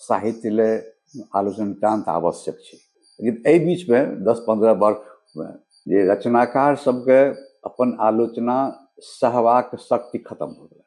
साहित्य ले आलोचना नितान्त आवश्यक छै लेकिन एहि बीचमे दस पन्द्रह वर्षमे जे रचनाकार सबके अपन आलोचना सहबाक शक्ति खतम हो गेलै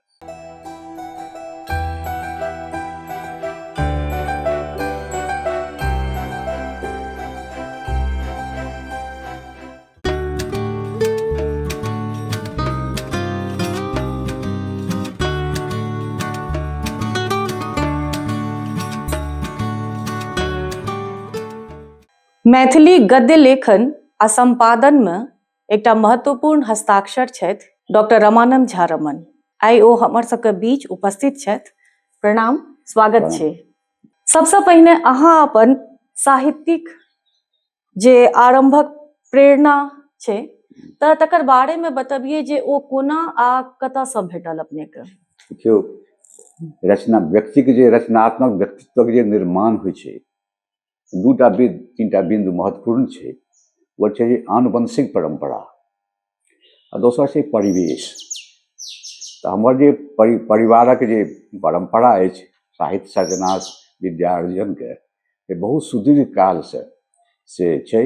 मैथिली गद्य लेखन आ संपादन में एकटा महत्वपूर्ण हस्ताक्षर छथि डॉक्टर रमानंद झा रमन आइ ओ हमर सबके बीच उपस्थित छथि प्रणाम स्वागत छै सबसँ पहिने अहाँ अपन साहित्यिक जे आरम्भक प्रेरणा छै तऽ तकर बारेमे बतबियै जे ओ कोना आ कतयसँ भेटल अपनेके देखियौ रचना व्यक्तिके जे रचनात्मक व्यक्तित्वक जे निर्माण होइ छै दूटा बिन्दु तीनटा बिन्दु महत्वपूर्ण छै ओ छै आनुवंशिक परम्परा आ दोसर छै परिवेश तऽ हमर जे परि परिवारक जे परम्परा अछि साहित्य सर्जना विद्या अर्जनके से बहुत सुदीर्घ कालसँ से छै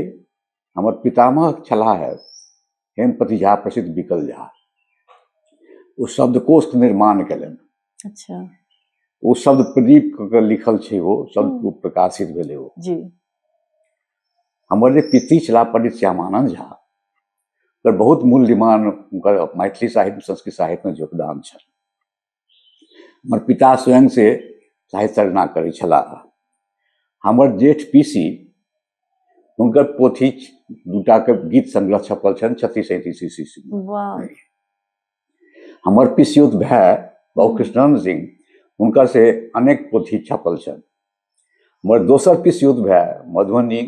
हमर पितामह छलाह हे हेमपति झा प्रसिद्ध विकल झा ओ शब्दकोश निर्माण कयलनि अच्छा ओ शब्द प्रदीप के लिखल छै ओ शब्द हम्म। प्रकाशित भेलै ओ जी हमर जे पितृ छलाह पंडित श्यामानंद झा ओकर बहुत मूल्यमान हुनकर मैथिली साहित्य संस्कृत साहित्यमे योगदान छनि हमर पिता स्वयं से साहित्य सर्जना करै छलाह हमर जेठ पीसी हुनकर पोथी दूटाके गीत संग्रह छपल छनि छत्तीस सैंतीस ईस्वी वाह हमर पिसियुत भाय बाबू कृष्णानंद सिंह हुनकर से अनेक पोथी छपल छनि मगर दोसर पीस युद्ध भए मधुबनी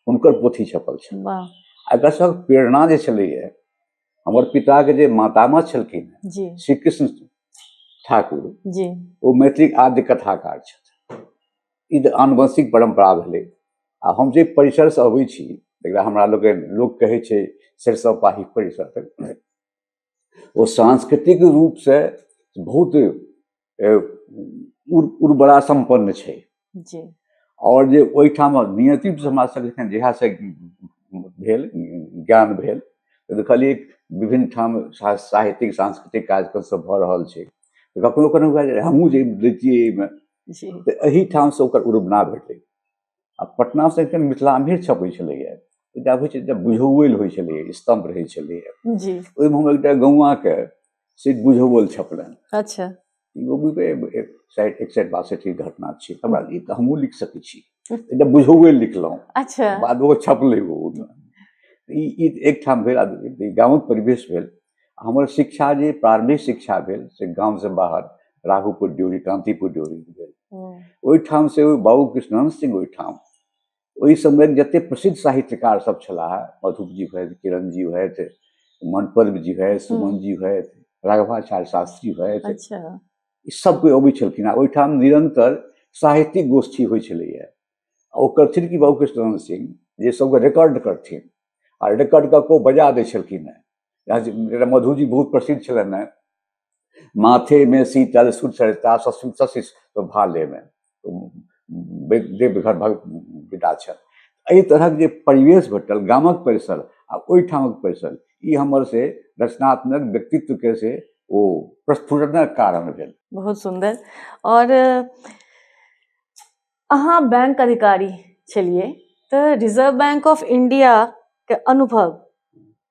हुनकर पोथी छपल छनि वाह आ एकर सभक प्रेरणा जे छलैए हमर पिताके जे मातामह छलखिन जी श्री कृष्ण ठाकुर जी ओ मैथिलीक आद्य कथाकार छथि ई तऽ आनुवंशिक परम्परा भेलै आ हम जे परिसरसँ अबै छी तकरा हमरा लोकनि लोक कहै छै सरिसव पाही परिसर तक ओ सांस्कृतिक रूपसँ बहुत उर्वरा सम्पन्न छै जी आओर जे ओहिठाम नियति हमरा सभके जखन जहियासँ भेल ज्ञान भेल तऽ देखलियै विभिन्न ठाम साहित्यिक सांस्कृतिक कार्यक्रम सब भऽ रहल छै तऽ कखनो कखनो हुए जे हमहूँ जे रहितियै एहिमे तऽ एहिठामसँ ओकर उर्वना भेटलै आ पटना से एकदम मिथिलाम्भीर छपै छलैया एकटा होइ छै बुझौल होइ छलै स्तंभ रहै छलैया ओहिमे हम एकटा गौआके से बुझौल छपलनि अच्छा साइड एक साइड बासठि घटना छै हमरा ई तऽ हमहूँ लिख सकै छी एकटा बुझौल लिखलहुँ अच्छा बाद ओ छपलै ओहिमे ई एकठाम भेल गाँवक परिवेश भेल हमर शिक्षा जे प्रारंभिक शिक्षा भेल से गाँव से बाहर राघोपुर ड्योरी कांतिपुर ड्योरी भेल हम्म। ओहिठाम से ओ बाबू कृष्णन सिंह ओहिठाम ओहि समय जते प्रसिद्ध साहित्यकार सब छलाह मधुप जी हुए किरण जी हुए मनपद जी हुए सुमन हम्म। जी हुए राघवाचार्य शास्त्री हुए अच्छा। ई सब कोइ अबै छलखिन आ ओहिठाम निरंतर साहित्यिक गोष्ठी होइ छलैया आ ओ करथिन कि बाबू कृष्ण सिंह जे सभके रिकॉर्ड करथिन आ रिकॉर्ड कऽ कऽ ओ बजा दै छलखिन हेँ यहाँ जे- जेना मधुजी बहुत प्रसिद्ध छलनि हेँ माथे में शीतल सुर चढ़ता ससुर सशिष तो भाले में तो बे- देवघर भग विदा छल एहि तरहक जे परिवेश भेटल गामक परिसर आ ओहिठामक परिसर ई हमर से रचनात्मक व्यक्तित्वके से ओ प्रस्फुटनक कारण भेल बहुत सुंदर और अ, अहाँ बैंक अधिकारी छलिए त रिजर्व बैंक ऑफ इंडिया के अनुभव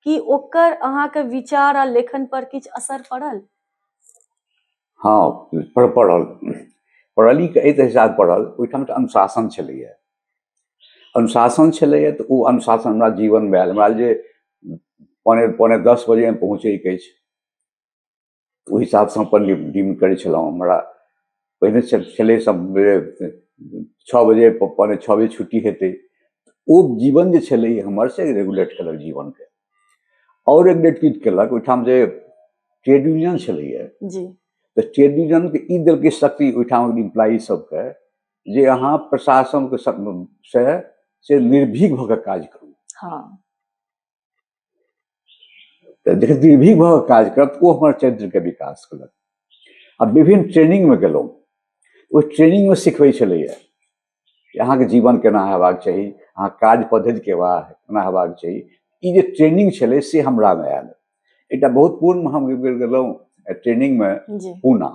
की ओकर अहाँ के विचार आ लेखन पर किछ असर पड़ल हाँ पर पड़ल पड़ल ई एहि हिसाब पड़ल ओहिठाम त अनुशासन छलैया अनुशासन छलैया त ओ अनुशासन हमरा जीवन मे आयल हमरा जे पौने पौने दस बजे पहुँचै के अछि तऽ ओहि हिसाबसँ हम अपन दिन करै छलहुँ हमरा पहिने छलै छओ बजे पौने छओ बजे छुट्टी हेतै ओ जीवन जे छलै हमर से रेगुलेट केलक जीवनके आओर रेगुलेट की केलक ओहिठाम जे ट्रेड यूनियन छलैए तऽ ट्रेड यूनियनके ई देलकै शक्ति ओहिठाम इम्प्लाइ सभके जे अहाँ प्रशासनके से से निर्भीक भऽ कऽ काज करू हँ तऽ जखन निर्भीक भऽ काज करब तऽ ओ हमर चरित्रके विकास केलक आ विभिन्न ट्रेनिंगमे गेलहुँ ओहि ट्रेनिंगमे सिखबै छलैए कि अहाँके जीवन केना हेबाक चाही अहाँ काज पद्धति केना केना हेबाक चाही ई जे ट्रेनिंग छलै से हमरामे आयल एकटा बहुत पूर्णमे हम गेलहुँ ट्रेनिंगमे पूना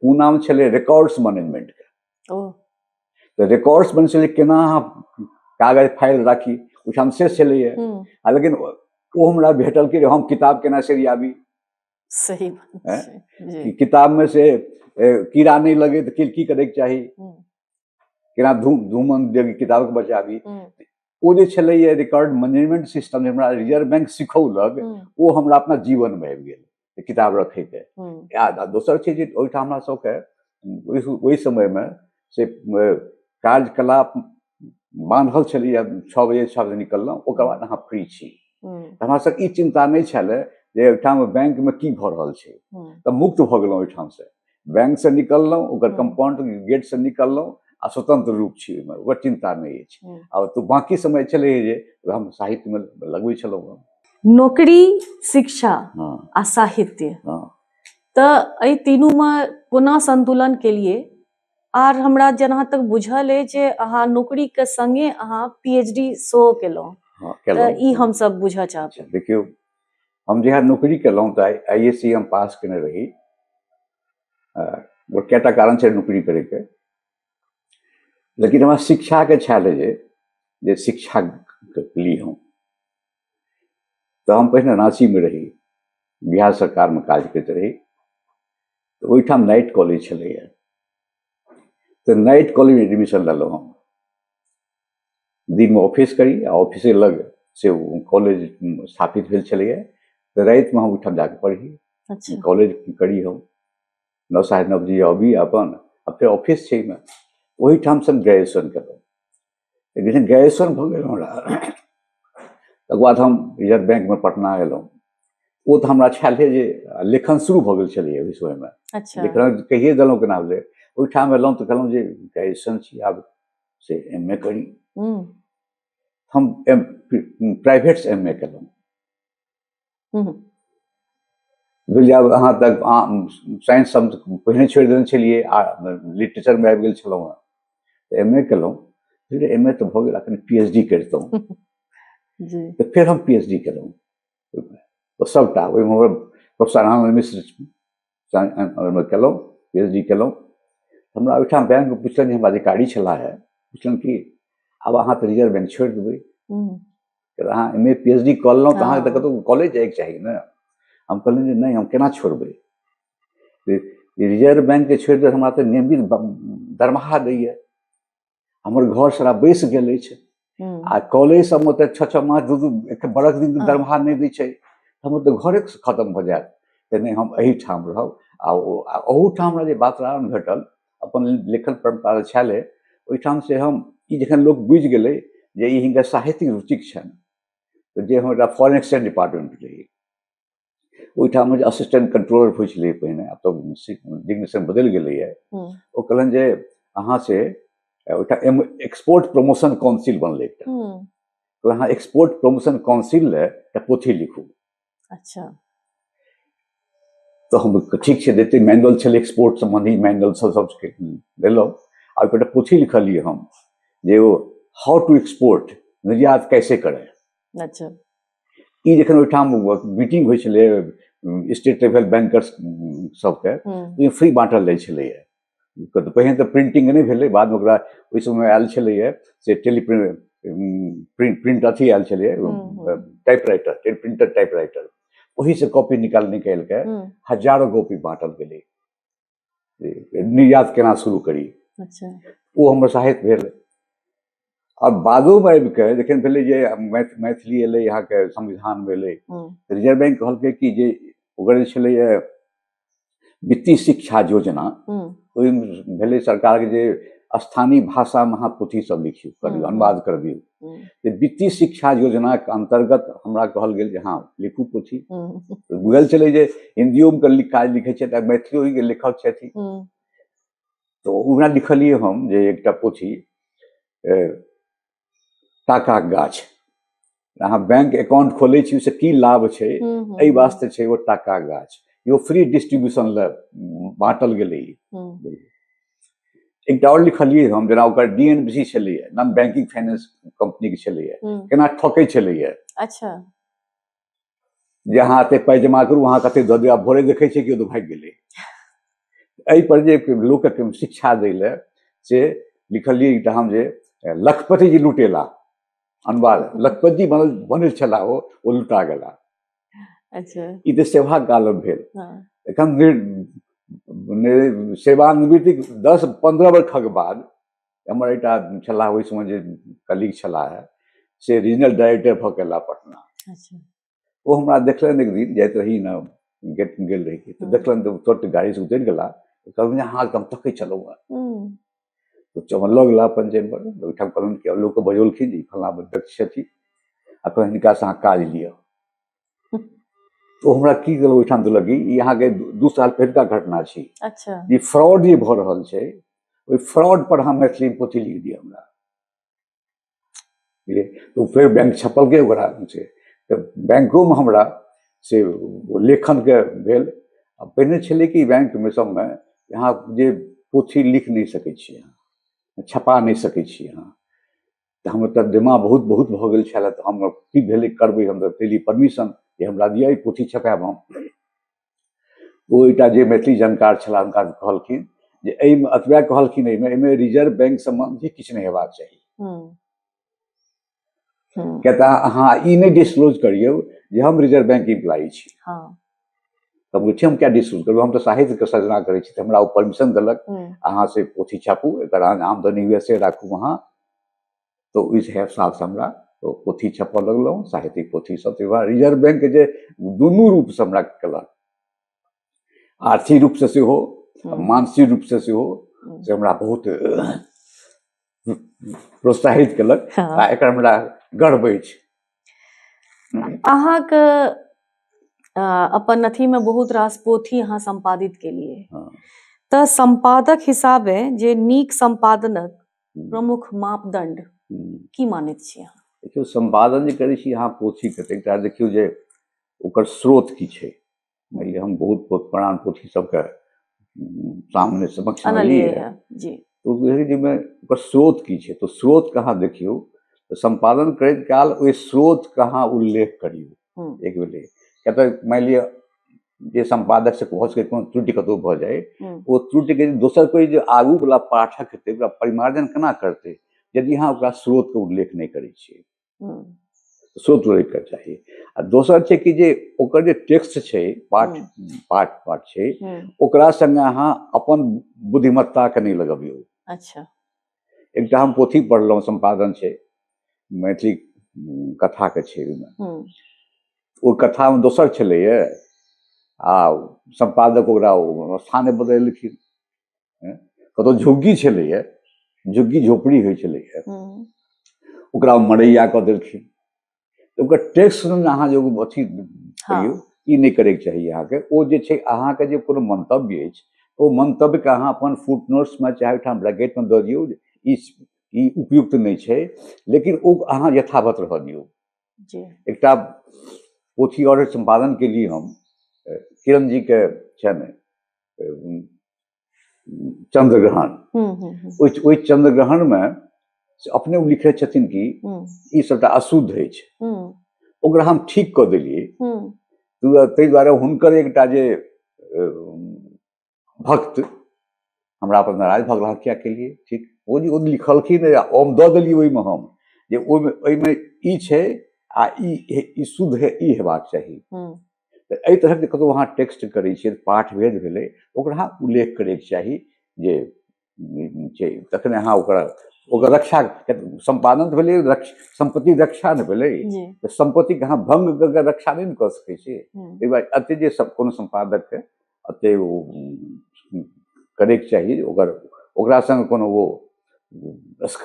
पूनामे छलै रिकॉर्ड्स मैनेजमेंटके तऽ रिकॉर्ड्स बनै छलै केना अहाँ कागज फाइल राखी ओहिठाम से छलैए आ लेकिन ओ हमरा भेटल कि हम किताब केना सरियाबी सही किताबमे से कीड़ा नहि लगे तऽ की की करैके चाही केना धूम धूमन देवी किताबके बचाबी ओ जे छलैए रिकॉर्ड मैनेजमेंट सिस्टम जे हमरा रिजर्व बैंक सिखौलक ओ हमरा अपना जीवनमे आबि गेल किताब रखैके आ दोसर छै जे ओहिठाम हमरा सबके ओहि ओहि समयमे से कार्यकलाप बान्हल छलैए छओ बजे छओ बजे निकललहुँ ओकर बाद अहाँ फ्री छी तऽ हमरा सबके ई चिन्ता नहि छलै जे ओहिठाम बैंकमे की भऽ रहल छै तऽ मुक्त भऽ गेलहुँ ओहिठामसँ बैंकसँ निकललहुँ ओकर हम्म। कम्पाउंड गेटसँ निकललहुँ आ स्वतंत्र रूप छी ओहिमे ओकर चिन्ता नहि अछि हम्म। आ तऽ बाँकी समय छलै जे हम साहित्यमे लगबै छलहुँ हँ नौकरी शिक्षा हँ आ साहित्य हँ तऽ एहि तीनूमे कोना संतुलन केलिए आर हमरा जहाँ तक बुझल अछि जे अहाँ नौकरीके संगे अहाँ पीएचडी सेहो केलहुँ हँ तऽ केलहुँ ई हमसब बुझऽ चाहब अच्छा देखियौ हम जहिया नौकरी केलहुँ तऽ आई एस सी हम पास केने रही ओ कएटा कारण छै नौकरी करैके लेकिन हमरा शिक्षाके छायल रहै जे शिक्षा ली हम तऽ हम पहिने राँचीमे रही बिहार सरकारमे काज करैत रही तऽ ओहिठाम नाइट कॉलेज छलैए तऽ नाइट कॉलेजमे एडमिशन लेलहुँ हम दिनमे ऑफिस करी आ ऑफिसे लग से कॉलेज स्थापित भेल छलैए तऽ रातिमे हम ओहिठाम जाकऽ पढ़ी अच्छा कॉलेज करी हम नओ साढ़े नओ बजे अबी अपन आ फेर ऑफिस छै ओहिमे ओहिठाम से हम ग्रेजुएशन केलहुँ तऽ जखन ग्रेजुएशन भऽ गेल हमरा तकर बाद हम रिजर्व बैंकमे पटना एलहुँ ओ तऽ हमरा छलै जे लेखन शुरू भऽ गेल छलैए ओहि समयमे अच्छा लेखन कहिए देलहुँ केना भेलै ओहिठाम एलहुँ तऽ कहलहुँ जे ग्रेजुएशन छी आब से एम ए करी हम एम प्राइवेटसँ एम ए केलहुँ बुझलियै आब अहाँ तक साइंस हम पहिने छोड़ि देने छलियै आ लिटरेचरमे आबि गेल छलहुँ हेँ तऽ एम ए केलहुँ फिर एम ए तऽ भऽ गेल एखन पी एच डी करितहुँ तऽ फेर हम पी एच डी केलहुँ ओहिमे सभटा ओहिमे हमर प्रोफेसर आनन्द मिश्र ओहिमे केलहुँ पी एच डी केलहुँ हमरा ओहिठाम बैंकमे पुछलनि जे हमरा अधिकारी छलाह है पुछलनि कि आब अहाँ तऽ रिजर्व बैंक छोड़ि देबै अहाँ M A P H D कऽ लेलहुँ तऽ अहाँके तऽ कतहु कॉलेज जाइके चाही ने हम कहलहुँ जे नहि हम केना छोड़बै रिजर्व बैंकके छोड़ि देबै हमरा तऽ नियमित दरमाहा दैए हमर घर सारा बैसि गेल अछि हम्म, आ कॉलेज सबमे तऽ छओ छओ मास दू दू एक बरख दिन हँ। दरमाहा नहि दै छै हमर तऽ घरे खतम भऽ जायत तऽ नहि हम एहिठाम रहब आ ओ- आ ओहूठाम हमरा जे वातावरण भेटल अपन लेखन परम्परा छलै ओहिठाम से हम ई जखन लोक बुझि गेलै जे ई हिनका साहित्यिक रुचिक छनि तऽ जे हमरा फॉरेन एक्सचेंज डिपार्टमेंट रही ओहिठाम जे असिस्टेंट कंट्रोलर होइ छलै पहिने आब तऽ डिग्नेशन बदलि गेलैए ओ कहलनि जे अहाँ से ओहिठाम एक्सपोर्ट प्रमोशन काउंसिल बनलै एकटा कहलनि अहाँ एक्सपोर्ट प्रमोशन काउंसिल लए एकटा पोथी लिखू अच्छा तऽ हम ठीक छै देते मैनुअल छलै एक्सपोर्ट सम्बन्धी मैनुअल सब सबके देलहुँ आ ओहिपर एकटा पोथी लिखलियै हम जे ओ हाउ टू एक्सपोर्ट निर्यात कैसे करें अच्छा ई जखन ओहिठाम मीटिंग होइ छलै स्टेट लेवल बैंकर्स सबके ओहिमे फ्री बाँटल जाइ छलैए तऽ पहिने तऽ प्रिंटिंग नहि भेलै बादमे ओकरा ओहि समय आयल छलैए से टेली प्रिंट प्रिंट अथी आयल छलैए typewriter printer typewriter ओहीसँ कॉपी निकालि निकालि कऽ हजारो कॉपी बाँटल गेलै निर्यात केना शुरू करी अच्छा ओ हमर साहित्य भेल आओर बादोमे आबि कऽ जखन भेलै जे मैथ मैथिली एलै अहाँके संविधान भेलै हम्म, तऽ रिजर्व बैंक कहलकै कि जे ओकर जे छलैए वित्तीय शिक्षा योजना हम्म, ओहिमे भेलै सरकारके जे स्थानीय भाषामे अहाँ पोथीसभ लिखियौ करियौ हम्म। अनुवाद करबियौ हम्म। वित्तीय शिक्षा योजना के अंतर्गत हमरा कहल गेल जे हाँ लिखू पोथी हम्म। तो बुझल चले जे हिंदियो में लिख काज लिखे छे मैथिलियो के लेखक छे हम्म। तो उना लिखलिए हम जे एकटा पोथी टाका गाछ अहाँ बैंक अकाउंट खोले छी से की लाभ छे ए वास्ते छे वो टाका गाछ यो फ्री डिस्ट्रीब्यूशन ले बांटल गेले एकटा आओर लिखलियै हम जेना ओकर डी एन बी छलैए नॉन बैंकिंग फाइनेंस कंपनीके छलैए हम्म, केना ठकै छलैए अच्छा जे अहाँ एते पाइ जमा करू अहाँ कते दऽ दिअ आब भोरे देखै छियै केओ तऽ भागि गेलै एहि पर जे लोकके शिक्षा दै लए से लिखलियै एकटा हम जे लखपति जी लुटेला अनुवाद लखपति जी बनल बनल छला ओ ओ लुटा गेला अच्छा ई तऽ सेवा कालम भेल हँ एखन निर- नि- सेवानिवृत्तिक दस पन्द्रह वर्षक बाद हमर एकटा छलाह ओहि समय जे कलीग छलाह से रीजनल डायरेक्टर भऽ गेला पटना अच्छा ओ हमरा देखलनि एक दिन जाइत रही ने गेट गेल रही तऽ हँ। देखलनि तऽ तुरंत गाड़ीसँ उतरि गेला कहलनि जे अहाँ एकदम तकै छलहुँ हँ। हम्म, तऽ चमन लऽ गेला अपन जेनपर ओहिठाम कहलहुँ कि लोक बजौलखिन जे फल्लाँ व्यक्ति छथिन आ कहलनि हिनकासँ अहाँ काज लिअ तो हमरा की गेल ओहिठाम देलक कि ई अहाँके दू साल पहिलका घटना छी अच्छा ई फ्रॉड जे भऽ रहल छै ओहि फ्रॉड पर अहाँ मैथिली पोथी लिख दिअ हमरा बुझलियै तऽ ओ फेर बैंक छपलकै ओकरा से तऽ बैंकोमे हमरा से लेखनके भेल आ पहिने छलै कि बैंकमे सभमे अहाँ जे पोथी लिख नहि सकै छी अहाँ छपा नहि सकै छी अहाँ तऽ हमर तऽ दिमाग बहुत बहुत भऽ गेल छलए तऽ हम की भेलै करबै हम तऽ पहिले परमिशन जे हमरा दिअ ई पोथी छपायब हम ओ एकटा जे मैथिली जानकार छलाह हुनका कहलखिन जे एहिमे अतबे कहलखिन एहिमे एहिमे रिजर्व बैंक सम्बन्धी किछु नहि हेबाक चाही हम्म, हम्म, किया तऽ अहाँ ई नहि डिस्क्लोज करियौ जे हम रिजर्व बैंक इम्प्लाई छी हाँ, तऽ हम कहै छी हम क्या डिस्क्लोज करबौ हम तऽ साहित्यके सजना करै छी तऽ हमरा ओ परमिशन देलक हम्म, अहाँ से पोथी छापू एकर अहाँ आमदनी हुए से राखू अहाँ तऽ ओहि हिसाबसँ हमरा ओ पोथी छपऽ लगलहुँ साहित्यिक पोथी सब तऽ रिजर्व बैंक जे दुनू रूपसँ हमरा केलक आर्थिक रूपसँ सेहो हम्म। मानसिक रूपसँ सेहो हम्म। से हमरा बहुत प्रोत्साहित केलक हाँ। आ एकर हमरा गर्व अछि अहाँके अपन अथीमे बहुत रास पोथी अहाँ सम्पादित केलिए हाँ। तऽ सम्पादक हिसाबे जे नीक सम्पादनक हम्म। प्रमुख मापदंड हम्म। की मानैत छी अहाँ देखियौ सम्पादन जे करै छी अहाँ पोथीके तऽ एकटा देखियौ जे ओकर स्रोत की छै मानि लिअ हम बहुत बहुत पुरान पोथी सबके हम्म, सामने समक्ष जाहिमे ओकर स्रोत की छै तऽ स्रोतके अहाँ देखियौ तऽ सम्पादन करैत काल ओहि स्रोतके अहाँ उल्लेख करियौ हम्म। एक भेलै किया तऽ मानि लिअ जे सम्पादक से भऽ सकै कोनो त्रुटि कतहु भऽ जाय हम्म। ओ त्रुटिके दोसर कोइ जे आगूवला पाठक हेतै ओकरा परिमार्जन केना करतै यदि अहाँ ओकरा स्रोतके उल्लेख नहि करै छियै हम्म। स्रोत उल्लेखके चाही आ दोसर छै कि जे ओकर जे टेक्स्ट छै पाठ हम्म। पाठ पाठ छै हम्म। ओकरा सङ्गे अहाँ अपन बुद्धिमत्ताके नहि लगबियौ अच्छा एकटा हम पोथी पढ़लहुँ सम्पादन छै मैथिली कथाके छै ओहिमे ओ कथामे दोसर छलैए आ सम्पादक ओकरा स्थाने बदलखिन कतहु झुग्गी छलैए झुग्गी झोपड़ी होइ छलैए ओकरा मरैया कऽ देलखिन तऽ ओकर टेक्स्ट ने अहाँ जे एगो अथी हाँ। करियौ ई नहि करैके चाही अहाँके ओ जे छै अहाँके जे कोनो मंतव्य अछि ओ मंतव्यके अहाँ अपन फुट नोट्समे चाहे ओहिठाम ब्रैकेटमे दऽ दियौ जे ई ई उपयुक्त नहि छै लेकिन ओ अहाँ यथावत रहऽ दियौ जी एकटा पोथी आओर सम्पादन केलिए हम अ, किरण जीके छनि अ, चंद्रग्रहण हम्म, हम्म, हम्म। ओहि ओहि चंद्रग्रहणमे से अपने ओ लिखै छथिन कि हम्म, ई सभटा अशुद्ध अछि हम्म, ओकरा हम ठीक कऽ देलियै हम्म, ताहि दुआ- ताहि दुआरे हुनकर एकटा जे अ, भक्त हमरा पर नाराज भऽ गेला किया केलियै ठीक ओ जे ओ लिखलखिन आ हम दऽ देलियै ओहिमे हम जे ओहिमे ओहिमे ई छै आ ई हे- ई शुद्ध हे ई हेबाक चाही हम्म, तऽ एहि तरहक जे कतहु अहाँ टेक्स्ट करै छियै पाठ भेद भेलै ओकरा उल्लेख करैके चाही जे छै तखने अहाँ ओकरा ओकर रक्षा सम्पादन तऽ भेलै रक्ष सम्पत्ति रक्षा ने भेलै तऽ सम्पत्तिके अहाँ भंग कऽ रक्षा नहि ने कऽ सकै छी ताहि दुआरे एते जे सब कोनो सम्पादकके एते ओ करैके चाही ओकर ओकरा सङ्ग कोनो ओ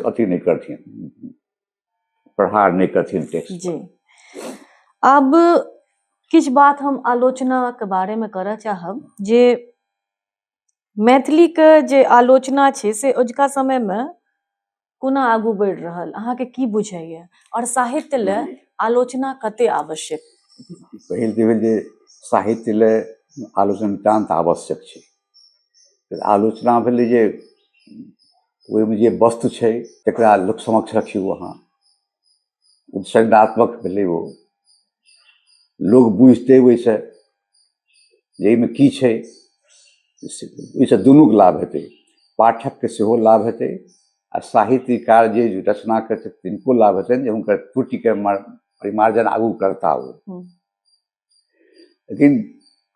अथी नहि करथिन प्रहार नहि करथिन टेक्स्ट जी आब किछु बात हम आलोचनाके बारेमे करऽ चाहब जे मैथिलीके जे आलोचना छै से अजुका समयमे कोना आगू बढ़ि रहल अहाँके की बुझाइए आओर साहित्य लए आलोचना कते आवश्यक पहिल तऽ भेल जे साहित्य लए आलोचना नितान्त आवश्यक छै आलोचना भेलै जे ओहिमे जे वस्तु छै तकरा लोक समक्ष रखियौ अहाँ उपसंगात्मक भेलै ओ लोक बुझतै ओहिसँ जे एहिमे की छै ओहिसँ दुनूके लाभ हेतै पाठकके सेहो लाभ हेतै आ साहित्यकार जे रचना करतै तिनको लाभ हेतनि जे हुनकर त्रुटिके परिमार्जन आगू करता ओ लेकिन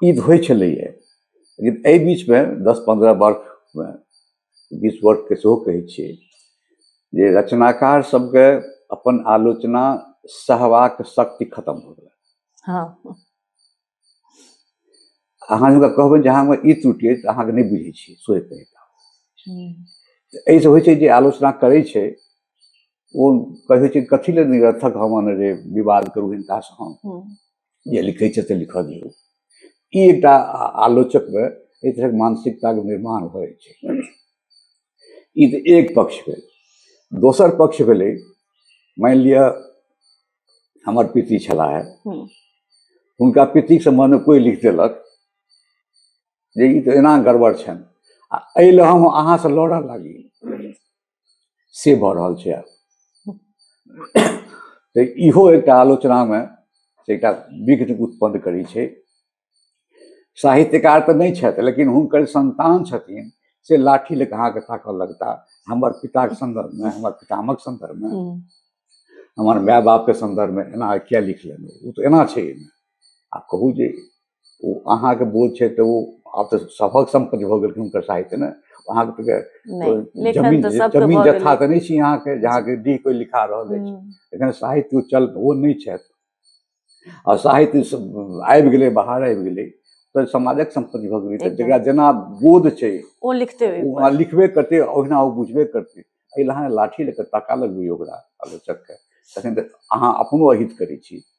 ई तऽ होइ छलैए लेकिन एहि बीचमे दस पनरह वर्षमे बीस वर्षके सेहो कहै छिए जे रचनाकार सबके अपन आलोचना सहबाक शक्ति खतम हो गेलै हँ अहाँ हुनका कहबै जे अहाँमे ई त्रुटि अछि अहाँके नहि बुझै छी सोचि एहिसँ होइ छै जे आलोचना करै छै ओ कहै छै कथी लए निरर्थक हम अने जे विवाद करू हिनकासँ हम हम्म। जे लिखै छै से लिखऽ दियौ ई एकटा आ- आलोचकमे एहि तरहक मानसिकताके निर्माण भऽ जाइ छै ई तऽ एक पक्ष भेल दोसर पक्ष भेलै मानि लिअ हमर पिति छलाह हम्म। हुनका पितिक सम्बन्धमे कोइ लिख देलक जे ई तऽ एना गड़बड़ छनि आ एहि लए हम अहाँसँ लड़ऽ लागी से भऽ रहल छै आब तऽ इहो एकटा आलोचनामे से एकटा विघ्न उत्पन्न करै छै साहित्यकार तऽ नहि छथि लेकिन हुनकर संतान छथिन से लाठी लऽ कऽ अहाँके ताकऽ लगता हमर पिताके सन्दर्भमे हमर पितामहक सन्दर्भमे हम्म, हमर माय बापके सन्दर्भमे एना किया लिख लेलहुँ ओ तऽ एना छै एहिमे आ कहू जे ओ अहाँके बोझ छै तऽ ओ आब तऽ सभक सम्पत्ति भऽ गेलखिन हुनकर साहित्य ने अहाँके तऽ जमीन जमीन जथा तऽ नहि छी अहाँके जे अहाँके डी कोइ लिखा रहल अछि हम्म। एखन साहित्य चल ओ नहि छथि आ साहित्य आबि गेलै बाहर आबि गेलै तऽ समाजक सम्पत्ति भऽ गेलै तऽ जकरा जेना बोध छै ओ लिखते ओ लिखबे करतै ओहिना ओ बुझबे करतै एहि लए अहाँ लाठी लऽ कऽ ताका लगबै ओकरा आलोचकके तखन तऽ अहाँ अपनो अहित करै छी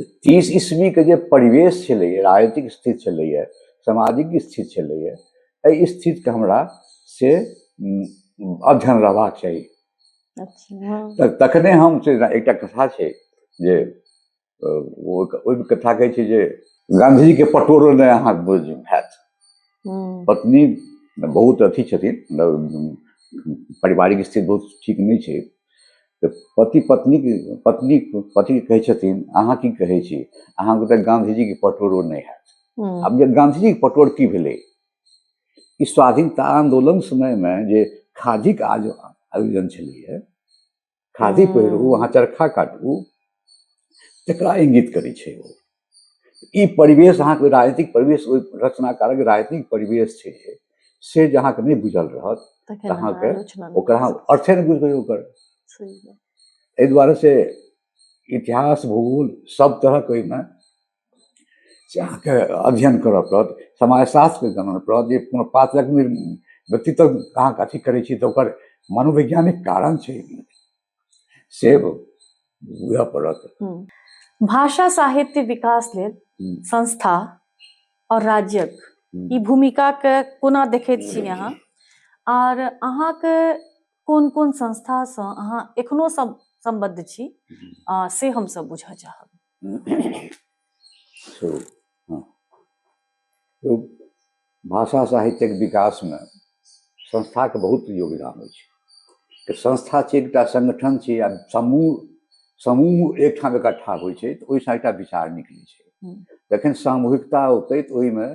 तीस ईस्वीके जे परिवेश छलैए राजनीतिक स्थिति छलैए सामाजिक स्थिति छलैए एहि स्थितिके हमरा से अध्ययन रहबाक चाही अच्छा। तखने हम से एकटा कथा छै जे ओहि कथा कहै छै जे गाँधीजीके पटोरो नहि अहाँ बुझ हैत हम्म। पत्नी बहुत अथी छथिन मतलब पारिवारिक स्थिति बहुत ठीक नहि छै तऽ पति पत्नी पत्नी पति कहै छथिन अहाँ की कहै छी अहाँके तऽ गाँधीजीके पटोरो नहि हैत आब जे गाँधीजीके पटोर की भेलै ई स्वाधीनता आंदोलन समयमे जे खादीक आज आयोजन छलैए खादी पहिरू अहाँ चरखा काटू तकरा इंगित करै छै ओ ई परिवेश अहाँके राजनीतिक परिवेश ओहि रचनाकारक राजनीतिक परिवेश छै से जे अहाँके नहि बुझल रहत तऽ अहाँके ओकरा अहाँ अर्थे नहि बुझबै ओकर एहि दुआरे से इतिहास भूगोल सब तरहक ओहिमे से अहाँके अध्ययन करय पड़त समाजशास्त्रके जानय पड़त जे कोनो पात्रक व्यक्तित्व अहाँके अथी करै छी तऽ ओकर मनोवैज्ञानिक कारण छै से बुझऽ पड़त हम्म। भाषा साहित्य विकास लेल हम्म, संस्था और राज्यक हम्म। ई भूमिका के कोना देखैत छी अहाँ आर अहाँके कोन कोन संस्था सँ अहाँ एखनो सम- सम्बद्ध छी आ से हमसब बुझऽ चाहब सो हँ ओ भाषा साहित्यक विकासमे संस्थाके बहुत योगदान अछि तऽ संस्था छै एकटा संगठन छै आ समूह समूह एकठाम एकट्ठा होइ छै तऽ ओहिसँ एकटा विचार निकलै छै जखन सामूहिकता औतै तऽ ओहिमे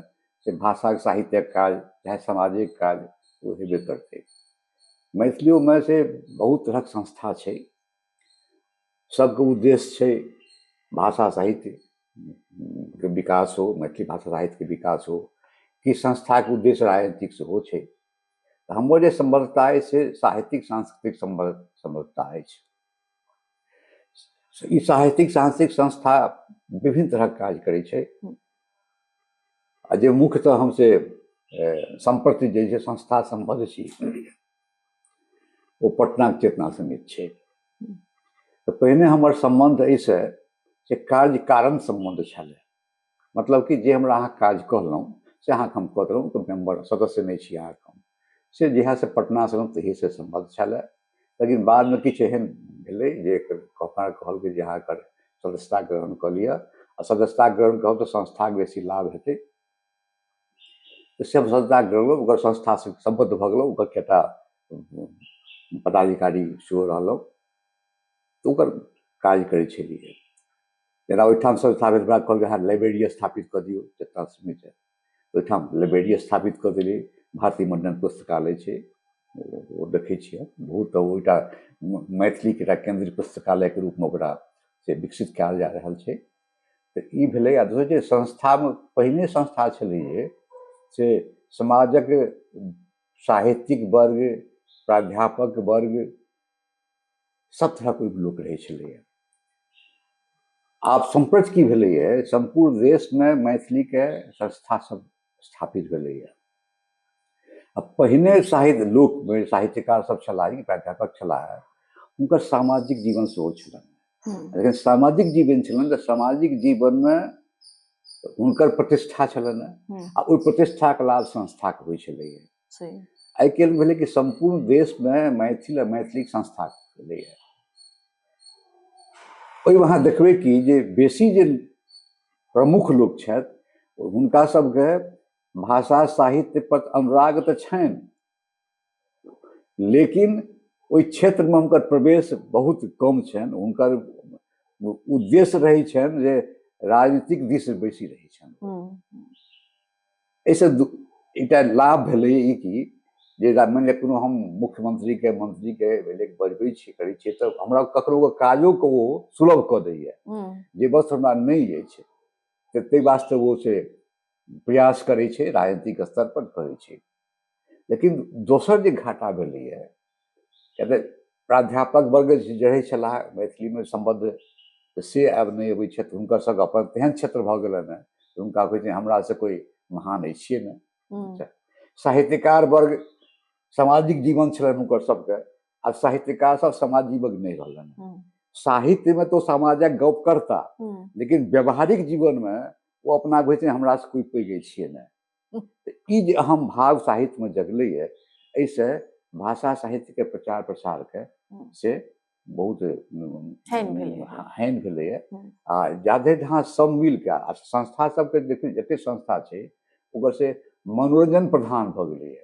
से भाषाक साहित्यक काज चाहे सामाजिक काज ओ हेबे करतै मैथिलियोमे से बहुत तरहक संस्था छै सबके उद्देश्य छै भाषा साहित्य के विकास हो मैथिली भाषा साहित्य के विकास हो कि संस्था के उद्देश्य राजनीतिक सेहो छै तऽ हमर जे सम्बद्धता अछि से साहित्यिक सांस्कृतिक सम्बद्ध सम्बद्धता अछि ई साहित्यिक सांस्कृतिक संस्था विभिन्न तरहक काज करै छै आ जे मुख्यतः हम से सम्प्रति जे छै संस्था सम्बद्ध छी ओ पटनाक चेतना समिति छै तऽ पहिने हमर सम्बन्ध एहिसँ जे कार्य कारण सम्बन्ध छलै मतलब कि जे हमरा अहाँ काज कहलहुँ से अहाँके हम कऽ देलहुँ तऽ मेम्बर सदस्य नहि छी अहाँके हम से जहियासँ पटनासँ एलहुँ तहिएसँ सम्बन्ध छलै लेकिन बादमे किछु एहन भेलै जे हमरा कहल गेल जे अहाँ एकर सदस्यता ग्रहण कऽ लिअ आ सदस्यता ग्रहण करब तऽ संस्थाके बेसी लाभ हेतै तऽ से संस्था जोड़लहुँ ओकर संस्थासँ सम्बद्ध भऽ गेलहुँ ओकर कएक टा पदाधिकारी सेहो रहलहुँ तऽ ओकर काज करै छलिए जेना ओहिठाम संस्था भेल तऽ कहलकै हँ लाइब्रेरी स्थापित कऽ दिऔ जतऽ समय छै ओहिठाम लाइब्रेरी स्थापित कऽ देलिए भारती मण्डन पुस्तकालय छै ओ देखै छिए बहुत ओहिटा मैथिलीके एकटा केन्द्रीय पुस्तकालयके रूपमे ओकरा से विकसित कएल जा रहल छै तऽ ई भेलै आ दोसर जे संस्थामे पहिने संस्था छलै जे से समाजक साहित्यिक वर्ग प्राध्यापक वर्ग सब तरहक ओहिमे लोक रहै छलैए आब सम्प्रति की भेलैए सम्पूर्ण देशमे मैथिलीके संस्था सब स्थापित भेलैए आ पहिने साहित्य लोक साहित्यकार सब छलाह प्राध्यापक छलाह हुनकर सामाजिक जीवन सेहो छलनि हम्म। लेकिन सामाजिक जीवन छलनि तऽ सामाजिक जीवनमे हुनकर प्रतिष्ठा छलनि हम्म। आ ओहि प्रतिष्ठाके लाभ संस्थाके होइ छलैए आइ काल्हि भेलै कि सम्पूर्ण देशमे मैथिल आ मैथिलीक संस्था भेलैए ओहिमे अहाँ देखबै कि जे बेसी जे प्रमुख लोक छथि हुनका सभके भाषा साहित्य पर अनुराग तऽ छनि लेकिन ओहि क्षेत्रमे हुनकर प्रवेश बहुत कम छनि हुनकर उद्देश्य रहै छनि जे राजनीतिक दिस बेसी रहै छनि हम्म। एहिसँ एकटा लाभ भेलै ई कि जे मानि लिअ कोनो हम मुख्यमंत्रीके मंत्रीके भेलै बजबै छी करै छियै तऽ हमरा ककरो काजोके ओ सुलभ कऽ दैए जे बस हमरा नहि अछि तऽ ताहि वास्ते ओ से प्रयास करै छै राजनीतिक स्तर पर करै छै लेकिन दोसर जे घाटा भेलैए किए तऽ प्राध्यापक वर्ग जे रहै छलाह मैथिलीमे सम्बद्ध से आब नहि अबै छथि हुनकर सभके अपन तेहन क्षेत्र भऽ गेलनि हेँ जे हुनका होइ छै हमरा से कोइ महान अछि छियै ने हम्म, साहित्यकार वर्ग सामाजिक जीवन छलनि हुनकर सभके आब साहित्यकार सब समाज जीवक नहि रहलनि हेँ। हम्म, साहित्यमे तो समाजक गप करता हम्म, लेकिन व्यवहारिक जीवनमे ओ अपना होइ छै हमरा से कोइ पैघ छियै ने ई जे अहम भाव साहित्यमे जगलैए एहिसँ भाषा साहित्यके प्रचार प्रसारके से बहुत हानि भेलैए आ जादे जहाँ सब मिलके आ संस्था सबके देखियौ जते संस्था छै ओकर से मनोरञ्जन प्रधान भऽ गेलैए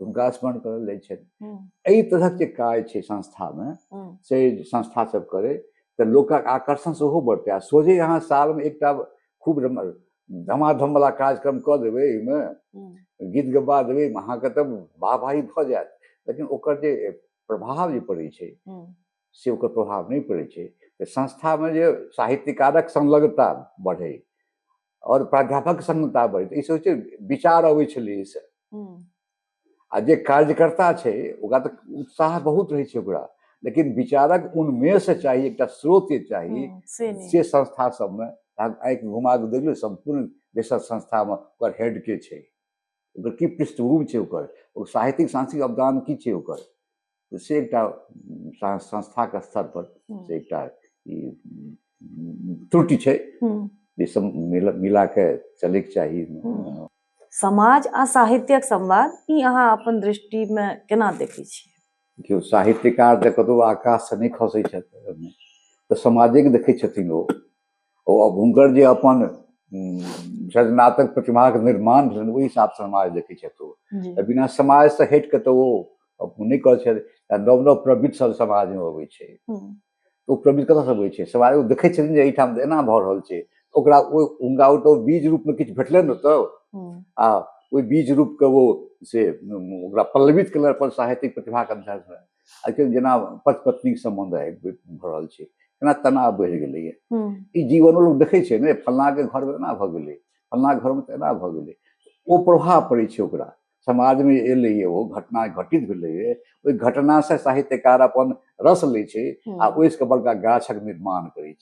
तऽ हुनका स्मरण करल जाइ छनि हम्म, एहि तरहक जे काज छै संस्थामे हम्म, से संस्था सब करै तऽ लोकक आकर्षण सेहो बढ़तै आ सोझे अहाँ सालमे एकटा खूब रम- धमाधमवला कार्यक्रम कऽ देबै एहिमे हम्म, गीत गबा देबै अहाँके तऽ वाहवाही भऽ जायत लेकिन ओकर जे प्रभाव जे पड़ै छै हम्म, से ओकर प्रभाव नहि पड़ै छै तऽ संस्थामे जे साहित्यकारक संलग्नता बढ़ै आओर प्राध्यापक संगता बढ़ै तऽ ईसभ छै विचार अबै छलै एहिसँ आ जे कार्यकर्ता छै ओकरा तऽ उत्साह बहुत रहै छै ओकरा लेकिन विचारक उन्मेष चाही एकटा स्रोत चाही से संस्था सबमे आँखि घुमा कऽ देखियौ सम्पूर्ण बेसर संस्थामे ओकर हेड के छै ओकर की पृष्ठभूमि छै ओकर ओ साहित्यिक सांस्कृतिक अवदान की छै ओकर तऽ से एकटा सा- संस्थाके स्तर पर हम्म, से एकटा ई उम, त्रुटि छै हम्म। जे सब मिला मिला के चलैके चाही हम्म। समाज आ साहित्यक संवाद ई अहाँ अपन दृष्टिमे केना देखै छी केओ साहित्यकार तऽ कतहु आकाशसँ नहि खसै छथि ओहिमे। तऽ समाजेके देखै छथिन ओ ओ अब हुनकर जे अपन सृजनात्मक प्रतिमाके निर्माण भेलनि ओहि हिसाबसँ समाज देखै छथि ओ तऽ बिना समाजसँ हटि कऽ तऽ ओ नहि करै छथि आ नव नव प्रवृत्त सब समाजमे अबै छै ओ प्रवृत्त कतऽसँ अबै छै समाज ओ देखै छथिन जे एहिठाम तऽ एना भऽ रहल छै ओकरा ओ हुनका ओ तऽ बीज रूपमे किछु भेटलनि ने तऽ आ ओहि बीज रूपके ओ से ओकरा पल्लवित केलनि अपन साहित्यिक प्रतिभाके अनुसारसँ आजकल जेना पति पत्नीक सम्बन्ध आबि भऽ रहल छै केना तनाव बढ़ि गेलैए ई जीवनो लोक देखै छै ने फल्लाँके घरमे एना भऽ गेलै फल्लाँ घरमे तऽ एना भऽ गेलै ओ प्रभाव पड़ै छै ओकरा समाजमे एलैए ओ घटना घटित भेलैए ओहि घटनासँ साहित्यकार अपन रस लै छै आ ओहिसँ बड़का गाछक निर्माण करै छै